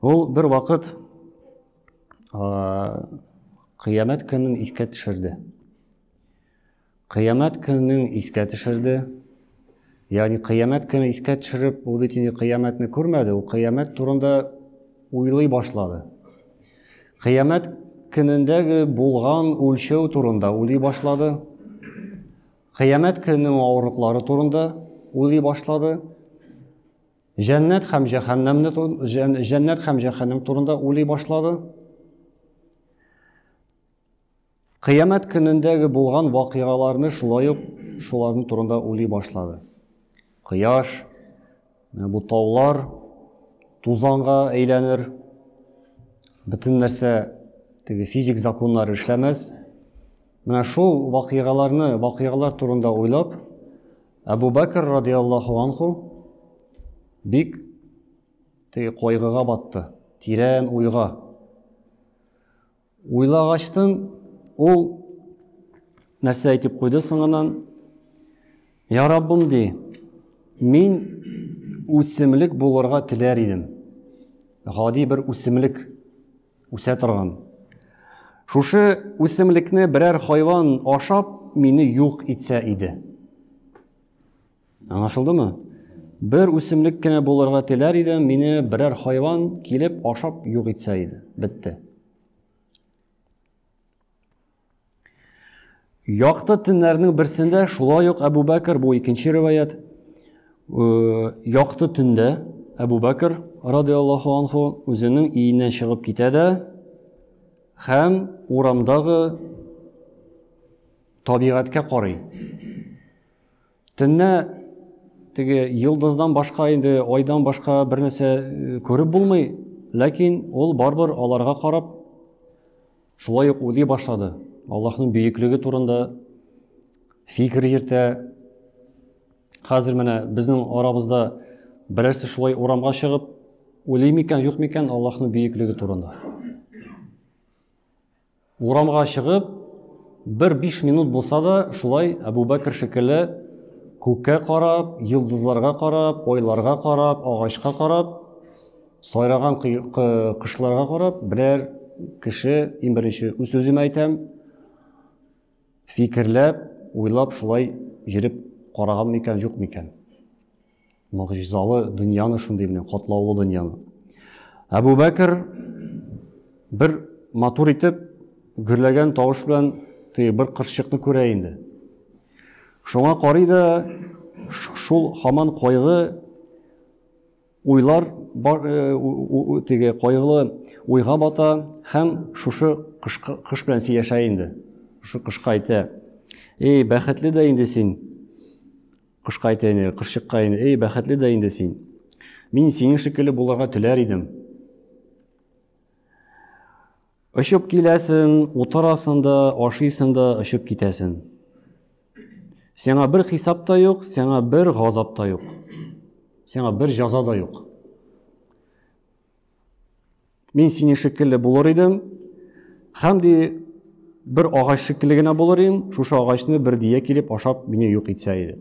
Ул бер вакыт кыямәт көнен искә төшерде. Кыямәт көнен искә төшерде. Ягъни кыямәт көнен искә төшереп, ул бит инде кыямәтне күрмәде, ул кыямәт турында уйлый башлады. Кыямәт көнендәге булган үлчәү турында уйлый башлады. Кыямәт көненең авырлыклары турында уйлый башлады. Җәннәт һәм җәһәннәмне җәннәт һәм җәһәннәм турында уйлый башлады. Кыямәт көнендәге булган вакыйгаларны шулай ук шуларның турында уйлый башлады. Кояш, э, бу таулар тузанга әйләнер. Бөтен нәрсә теге физик законнар эшләмәс. Менә шул вакыйгаларны, вакыйгалар турында уйлап, Әбу Бәкер радиаллаху анху бик теге кайгыга батты, тирән уйга. Уйлагачтын ул нәрсә әйтеп куйды соңыннан? Я Раббым ди, мин үсемлек булырга теләр идем. Гади бер үсемлек Үсә торган. Шушы үсемлекне берәр хайван ашап, мине юк итсә иде. Аңлашылдымы? Бер үсемлек кенә булырга теләр идем, мине берәр хайван килеп ашап юк итсә иде. Бетте. Якты төннәрнең берсендә шулай ук Әбу Бәкер, бу икенче риваят, якты төндә Әбу Бәкер радиаллаху анху үзенең иеннән чыгып китә дә һәм урамдагы табигатькә карый. Төнне теге йолдыздан башка инде айдан башка бер нәрсә э, күреп булмый, ләкин ул барбыр аларга карап шулай ук уйлый башлады. Аллаһның бөеклеге турында фикер йөртә. Хәзер менә безнең арабызда берәрсе шулай урамга чыгып уйлый микән, юк микән Аллаһның бөеклеге турында. Урамга чыгып, бер биш минут булса да, шулай Әбүбәкер шикелле күккә карап, йолдызларга карап, айларга карап, агачка карап, сайраган кошларга карап, берәр кеше, иң беренче үз-үземә әйтәм, фикерләп, уйлап шулай йөреп караган микән, юк микән? Могҗизалы дөньяны шундый белән, катлаулы дөньяны. Әбу Бәкер бер матур итеп гөрләгән тавыш белән теге бер кыршыкны күрә инде. Шуңа карый да шул хаман кайгы уйлар бар, э, теге кайгылы уйга бата һәм шушы кыш, кыш белән сөйләшә инде. Шушы кышка әйтә. Эй, бәхетле дә инде син. Кошка әйтә инде, кошчыкка инде, эй, бәхетле дә инде син. Мин синең шикелле булырга теләр идем. Очып киләсең, утырасың да, ашыйсың да, очып китәсең. Сиңа бер хисап та юк, сиңа бер газап та юк. Сиңа бер җаза да юк. Мин сине шикелле булыр идем, һәм ди бер агач шикелле генә булыр идем, шушы агачны бер дия килеп ашап мине юк итсә иде.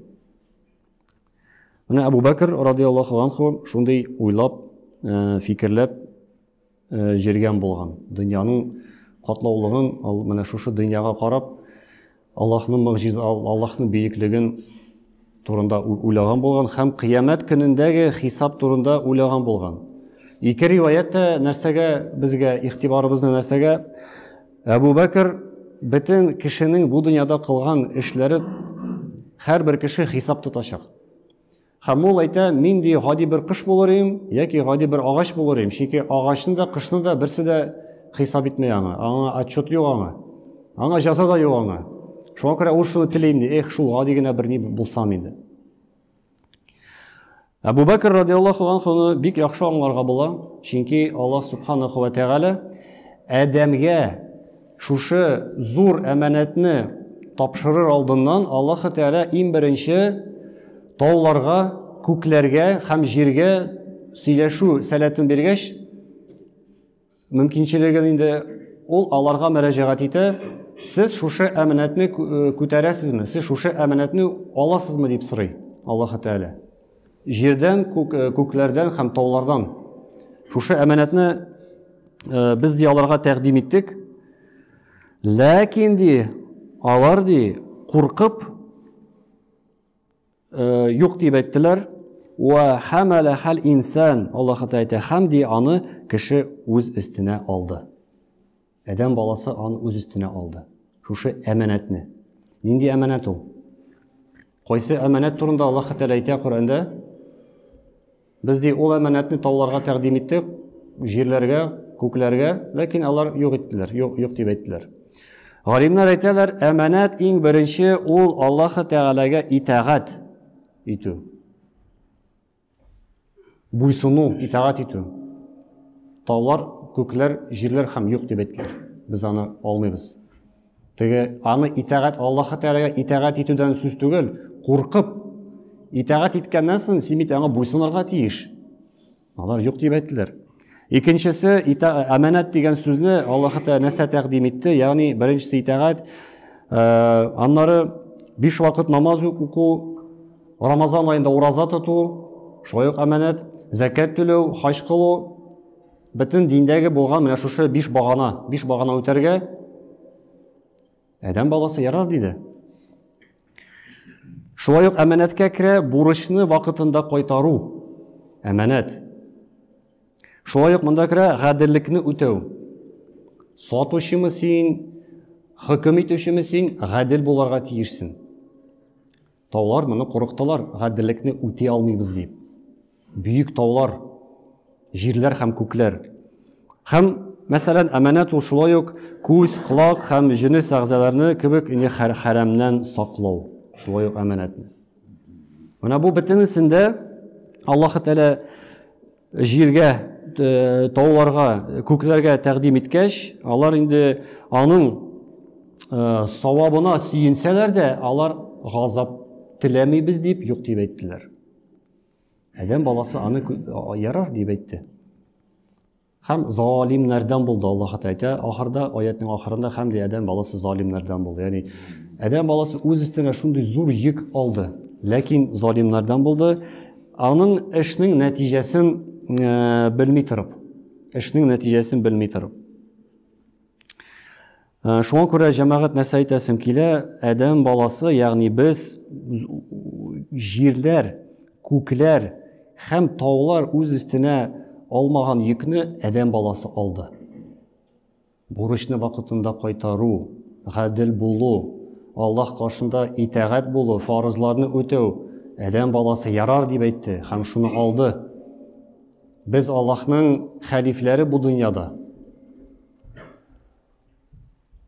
Менә Абу Бәкер радиаллаху анху шундый уйлап, э, фикерләп э, җиргән булган. Дөньяның катлаулыгын, ал менә шушы дөньяга карап, Аллаһның могҗиз Аллаһның бөеклеген турында уйлаган булган һәм кыямәт көнендәге хисап турында уйлаган булган. Ике риваять тә нәрсәгә безгә игътибарыбызны нәрсәгә Әбу Бәкер бөтен кешенең бу дөньяда кылган эшләре һәрбер кеше хисап тотачак. Һәм ул әйтә, нинди гади бер кыш булыр им, яки гади бер агач булыр им, чөнки агачны да, кышны да берсе дә хисап итмәй аңа, аңа отчет юк аңа, аңа җәза да юк аңа. Шуңа күрә ул шуны телим, ди, эх, шул гади генә бер ни булсам инде. Әбу Бәкер радиаллаху анхуны бик яхшы аңларга була, чөнки Аллаһ субханаху ва тәгалә Адәмгә Шушы зур әманәтне тапшырыр алдыннан Аллаһы Тәгалә иң беренче тауларга, күкләргә һәм җиргә сөйләшү сәләтен биргәч, мөмкинчелеген инде ул аларга мөрәҗәгать итә, сез шушы әманәтне күтәрәсезме, сез шушы әманәтне аласызмы дип сорый Аллаһы Тәгалә. Җирдән, күк, э, күкләрдән һәм таулардан. Шушы әманәтне э, без ди аларга тәкъдим иттек. Ләкин ди, алар ди куркып э, юк дип әйттеләр. Ва хамала хал инсан, Аллаһ Тәгалә әйтә, һәм ди аны кеше үз өстенә алды. Адәм баласы аны үз өстенә алды. Шушы әманәтне. Нинди әманәт ул? Кайсы әманәт турында Аллаһ Тәгалә әйтә Коръәндә? Без ди ул әманәтне тауларга тәкъдим иттек, җирләргә, күкләргә, ләкин алар юк иттеләр, юк, юк дип әйттеләр. Галимнәр әйтәләр, әманәт иң беренче ул Аллаһ Тәгаләгә итагать итү. Буйсыну, итагать итү. Таулар, күкләр, җирләр һәм юк дип әйткән. Без аны алмыйбыз. Теге аны итагать Аллаһ Тәгаләгә итагать итүдән сүз түгел, куркып итагать иткәннән соң син бит аңа буйсынырга тиеш. Алар юк дип әйттеләр. Икенчесе, әмәнәт дигән сүзне Аллаһы Тәгалә нәрсә тәкъдим итте? Ягъни, беренчесе итагать, аннары биш вакыт намаз уку, Рамазан айында ураза тоту, шулай ук әмәнәт, зәкәт түләү, хаҗ кылу, бөтен диндәге булган менә шушы биш багана, биш багана үтәргә, Адәм баласы ярар диде. Шулай ук әманәткә керә бурычны вакытында кайтару. Әманәт. Шулай ук монда керә гаделлекне үтәү. Сатучымы син, хөкем итүчеме син, гадел буларга тиешсең. Таулар моны курыктылар, гаделлекне үти алмыйбыз дип. Бөек таулар, җирләр һәм күкләр. Һәм, мәсәлән, әманәт ул шулай ук күз, колак һәм җенес әгъзаларны кебек ине хәрәмнән саклау, шулай ук әманәтне. Менә бу бөтенесендә Аллаһ Тәгалә җиргә, э, тауларга, күкләргә тәкъдим иткәч, алар инде аның э, савабына сөенсәләр дә, алар газап теләмибез дип юк дип әйттеләр. Адәм баласы аны ярар дип әйтте. Хәм залимнәрдән булды, Аллаһ Тәгалә әйтә, ахырда аятның ахырында хәм дә адәм баласы залимнәрдән булды. Ягъни адәм баласы үз өстенә шундый зур йөк алды, ләкин залимнәрдән булды. Аның эшнең нәтиҗәсен э, белми торып, эшнең нәтиҗәсен белми торып. Ә, шуңа күрә җәмәгать нәрсә әйтәсем килә, адәм баласы, ягъни без җирләр, күкләр һәм таулар үз өстенә алмаган йөкне адәм баласы алды. Бурычны вакытында кайтару, гадел булу, Аллаһ каршында итәгать булу, фарызларны үтәү адәм баласы ярар дип әйтте һәм шуны алды. Без Аллаһның хәлифләре бу дөньяда.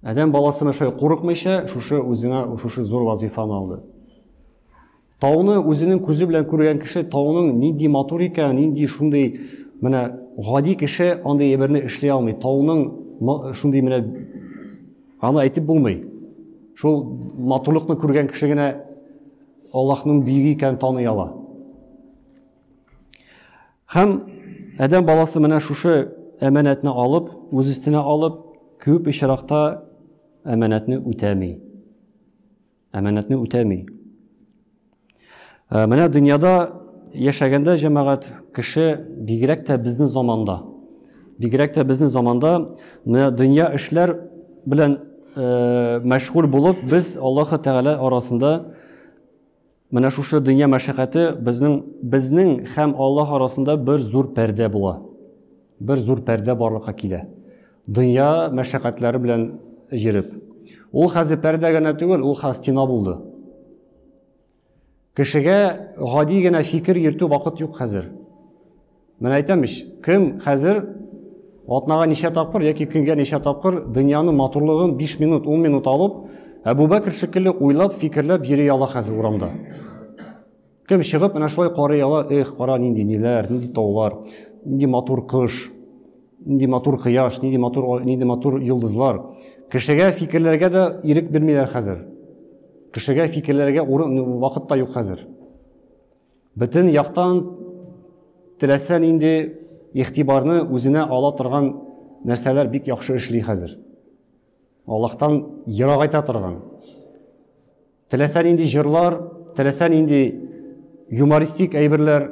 Адәм баласы мәшәй курыкмыйча, шушы үзенә шушы зур вазифаны алды. Тауны үзенең күзе белән күргән кеше тауның нинди матур икән, нинди шундый менә гади кеше андый әйберне эшли алмый. Тауның шундый менә аны әйтеп булмый. Шул матурлыкны күргән кеше генә Аллаһның бийеге икәнен таный ала. Һәм Адәм баласы менә шушы әманәтне алып, үз өстенә алып, күп очракта әманәтне үтәми. Әманәтне үтәми. Ә, менә дөньяда яшәгәндә җәмәгать кеше бигрәк тә безнең заманда. Бигрәк тә безнең заманда менә дөнья эшләр белән мәшгуль булып, без Аллаһы Тәгалә арасында Менә шушы дөнья мәшәкате безнең безнең һәм Аллаһ арасында бер зур пәрдә була. Бер зур пәрдә барлыкка килә. Дөнья мәшәкатьләре белән йөреп. Ул хәзер пәрдә генә түгел, ул хәзер стена булды. Кешегә гади генә фикер йөртү вакыт юк хәзер. Менә әйтәм ич, кем хәзер атнага ничә тапкыр яки көнгә ничә тапкыр дөньяны матурлыгын 5 минут, 10 минут алып, Әбубәкер шикелле уйлап, фикерләп йөри ала хәзер урамда. Кем чыгып менә шулай карый ала, эх, кара нинди ниләр, нинди таулар, нинди матур кыш, нинди матур кояш, нинди матур нинди матур йолдызлар. Кешегә фикерләргә дә ирек бирмиләр хәзер. Кешегә фикерләргә урын вакыт та юк хәзер. Бөтен яктан теләсә нинди игътибарны үзенә ала торган нәрсәләр бик яхшы эшли хәзер. Аллаһтан ерагайта торган. Теләсә нинди җырлар, теләсә нинди юмористик әйберләр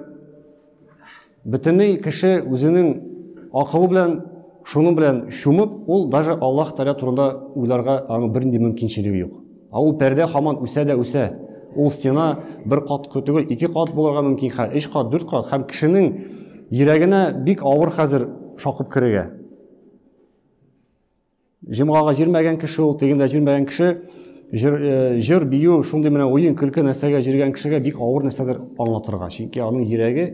Бөтенләй кеше үзенең акылы белән, шуның белән чумып, ул даже Аллаһ Тәгалә турында уйларга аның бернинди мөмкинчелеге юк. Ә ул пәрдә хаман үсә дә үсә. Ул стена бер кат түгел, ике кат булырга мөмкин хәл, өч кат, дүрт кат һәм кешенең йөрәгенә бик авыр хәзер шакып керергә. Җомгага җөрмәгән кеше ул, тегендә җөрмәгән кеше, җыр, э, җыр бию, шундый менә уен, көлке нәрсәгә җөргән кешегә бик авыр нәрсәдер аңлатырга. Чөнки аның йөрәге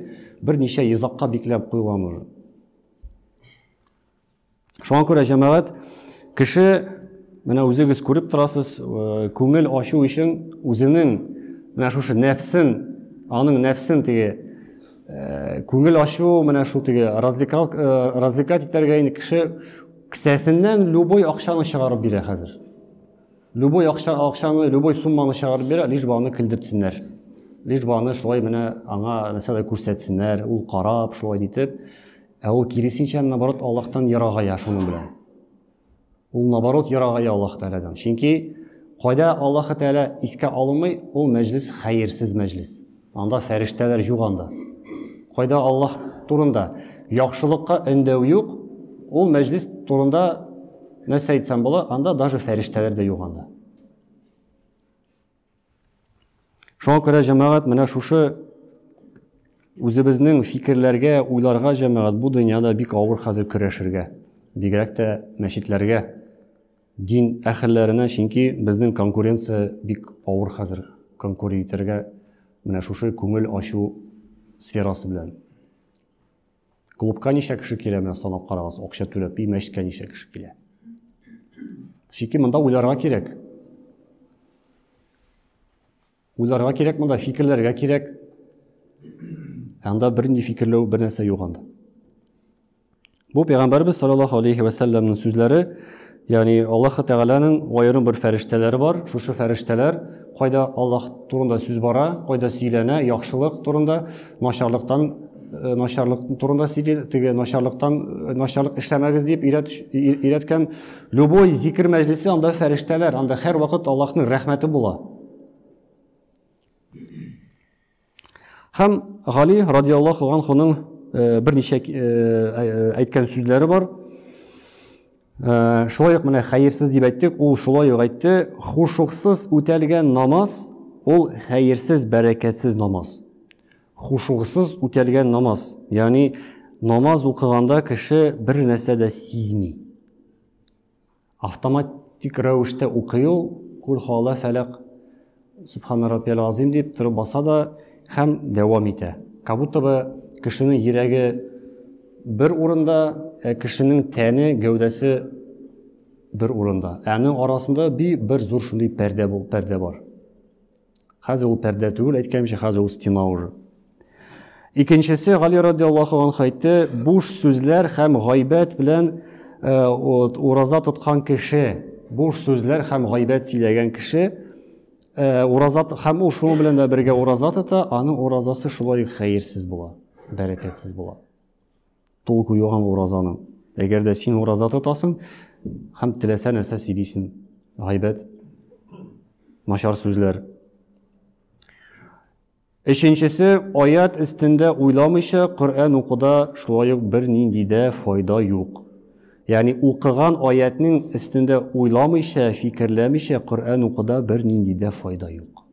берничә йозакка бикләп куелган уже. Шуңа күрә җәмәгать кеше менә үзегез күреп торасыз, э, күңел ачу өчен үзенең менә шушы нәфсен, аның нәфсен теге э, күңел ачу менә шул теге развлекал развлекать итәргә инде кеше Кесәсеннән любой акчаны чыгарып бирә хәзер. Любой акча, акчаны, любой сумманы чыгарып бирә, лишь бы аны көлдертсеннәр. Лишь бы аны шулай менә аңа нәрсәдә күрсәтсеннәр, ул карап шулай дитеп. Ә ул киресенчә наоборот Аллаһтан ерагая шуның белән. Ул наоборот ерагая Аллаһ Тәгаләдән. Чөнки кайда Аллаһ Тәгалә искә алынмый, ул мәҗлес хәерсез мәҗлес. Анда фәрештәләр юк анда. Кайда Аллаһ турында яхшылыкка өндәү юк, ул мәҗлис турында нәрсә әйтсәм була, анда даже фәрештәләр дә юк анда. Шуңа күрә җәмәгать менә шушы үзебезнең фикерләргә, уйларга җәмәгать бу дөньяда бик авыр хәзер көрәшергә. Бигрәк тә мәчетләргә Дин әхелләренә, чөнки безнең конкуренция бик авыр хәзер. Конкури итәргә менә шушы күңел ачу сферасы белән. Клубка ничә кеше килә, менә санап карагыз, акча түләп, и мәчеткә ничә кеше килә. Чөнки монда уйларга кирәк. Уйларга кирәк монда, фикерләргә кирәк. Анда бернинди фикерләү, бер нәрсә юк анда. Бу пәйгамбәрбез саллаллаһу алейхи ва салламның сүзләре, ягъни Аллаһ Тәгаләнең аерым бер фәрештәләре бар. Шушы фәрештәләр кайда Аллаһ турында сүз бара, кайда сөйләнә, яхшылык турында, начарлыктан э, начарлык турында сөйли, теге начарлыктан э, начарлык эшләмәгез дип өйрәткән любой зикер мәҗлесе анда фәрештәләр, анда һәр вакыт Аллаһның рәхмәте була. Һәм Гали радиаллаху анхуның э, берничә э, э, әйткән сүзләре бар. Шулай ук менә хәерсез дип әйттек, ул шулай ук әйтте, хушуксыз үтәлгән намаз ул хәерсез, бәрәкәтсез намаз. Хушуксыз үтәлгән намаз, ягъни намаз укыганда кеше бер нәрсә дә сизми. Автоматик рәвештә укый ул, Куль хуала фәләк, Субхана раббияль азим дип торып баса да һәм дәвам итә. Как будто бы кешенең йөрәге бер урында, ә кешенең тәне, гәүдәсе бер урында. Ә аның арасында би бер зур шундый пәрдә бул, пәрдә бар. Хәзер ул пәрдә түгел, әйткәнемчә, хәзер ул стена уже. Икенчесе Гали радиаллаху анху әйтте, буш сүзләр һәм гайбәт белән э, ураза тоткан кеше, буш сүзләр һәм гайбәт сөйләгән кеше э, ураза һәм ул шуның белән дә бергә ураза тота, аның уразасы шулай хәерсез була, бәрәкәтсез була. Толку юган уразаның. Әгәр дә син ураза тотасың һәм теләсә нәрсә сөйлисең, гайбәт, начар сүзләр. Өченчесе, аят өстендә уйламыйча Коръән укуда шулай ук бернинди дә файда юк. Ягъни укыган аятның өстендә уйламыйча, фикерләмичә Коръән укуда бернинди дә файда юк.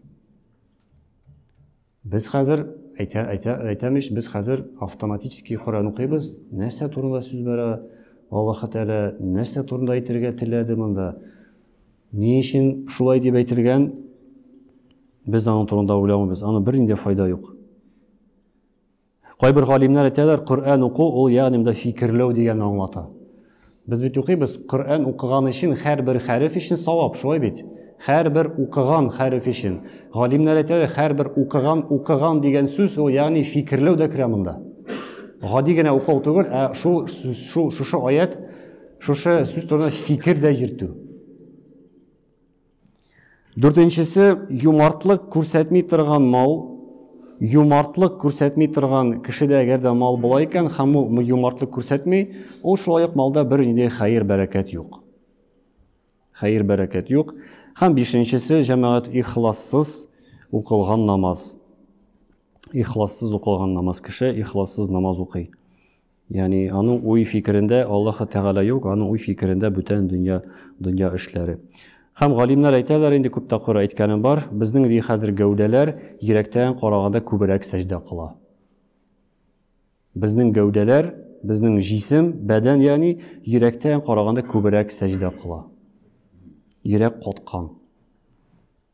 Без хәзер, әйтә, әйтә, әйтәм ич, без хәзер автоматически Коръән укыйбыз, нәрсә турында сүз бара, Аллаһы Тәгалә нәрсә турында әйтергә теләде монда, ни өчен шулай дип әйтелгән, без аның турында уйламыйбыз, аны бернинди файда юк. Кайбер галимнәр әйтәләр, Коръән уку ул ягъни монда фикерләү дигәнне аңлата. Без бит укыйбыз, Коръән укыган өчен һәрбер хәреф өчен савап, шулай бит? Һәрбер укыган хәреф өчен. Галимнәр әйтәләр, һәрбер укыган, укыган дигән сүз ул ягъни фикерләү дә керә монда. Гади генә укыл түгел, ә шул шул шушы аят, шушы сүз турында фикер дә йөртү. Дүртенчесе, юмартлык күрсәтми торган мал. Юмартлык күрсәтми торган кешедә әгәр дә мал була икән һәм ул юмартлык күрсәтми, ул шулай ук малда бер нинди хәер бәрәкәт юк. Хәер бәрәкәт юк. Һәм бишенчесе, җәмәгать ихлассыз укылган намаз. Ихлассыз укылган намаз кеше ихлассыз намаз укый. Яни аның уй фикерендә Аллаһы Тәгалә юк, аның уй фикерендә бүтән дөнья, дөнья эшләре. Хәм галимнәр әйтәләр инде күп тапкыр әйткәнем бар, безнең ди хәзер гәүдәләр йөрәктән караганда күбрәк сәҗдә кыла. Безнең гәүдәләр, безнең җисем, бәдән яни йөрәктән караганда күбрәк сәҗдә кыла. Йөрәк коткан.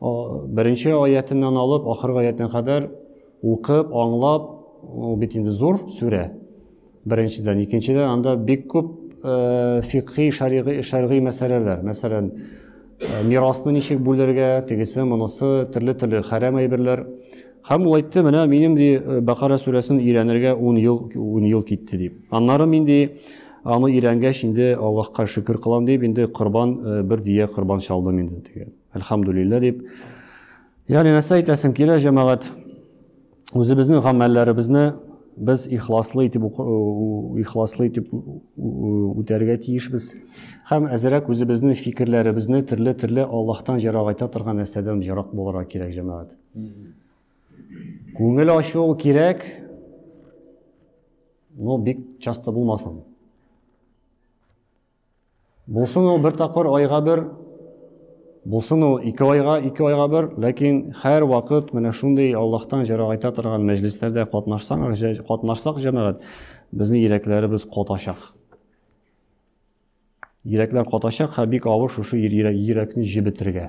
Беренче аятеннән алып ахыргы аятына кадәр укып, аңлап, ул бит инде зур сүрә. Беренчедән, икенчедән анда бик күп э, фикхи, шәригый, шәригый мәсьәләләр. Мәсәлән, э, мирасны ничек бүлергә, тегесе, монысы, төрле-төрле хәрәм әйберләр. Һәм ул әйтте, менә минем ди э, Бакара сүрәсен өйрәнергә 10 ел 10 ел китте дип. Аннары мин ди аны өйрәнгәч инде Аллаһка шөкер кылам дип инде корбан бер дия корбан чалдым инде диген. Әлхәмдүлиллә дип. Ягъни нәрсә әйтәсем килә, җәмәгать? Үзебезнең гамәлләребезне без ихласлы итеп ихласлы итеп үтәргә тиешбез. Һәм әзерәк үзебезнең фикерләребезне төрле-төрле Аллаһтан җарагайта торган нәрсәдән җарак булырга кирәк, җәмәгать. Күңел ачу кирәк, но бик часто булмасын. Булсын ул бер тапкыр айга бер, булсын ул ике айга, ике айга бер, ләкин хәр вакыт менә шундый Аллаһтан җәрәгайта торган мәҗлесләрдә катнашсаң, катнашсак җәмәгать, безнең йөрәкләребез катачак. Йөрәкләр катачак, һәм бик авыр шушы йөрәкне җебетергә.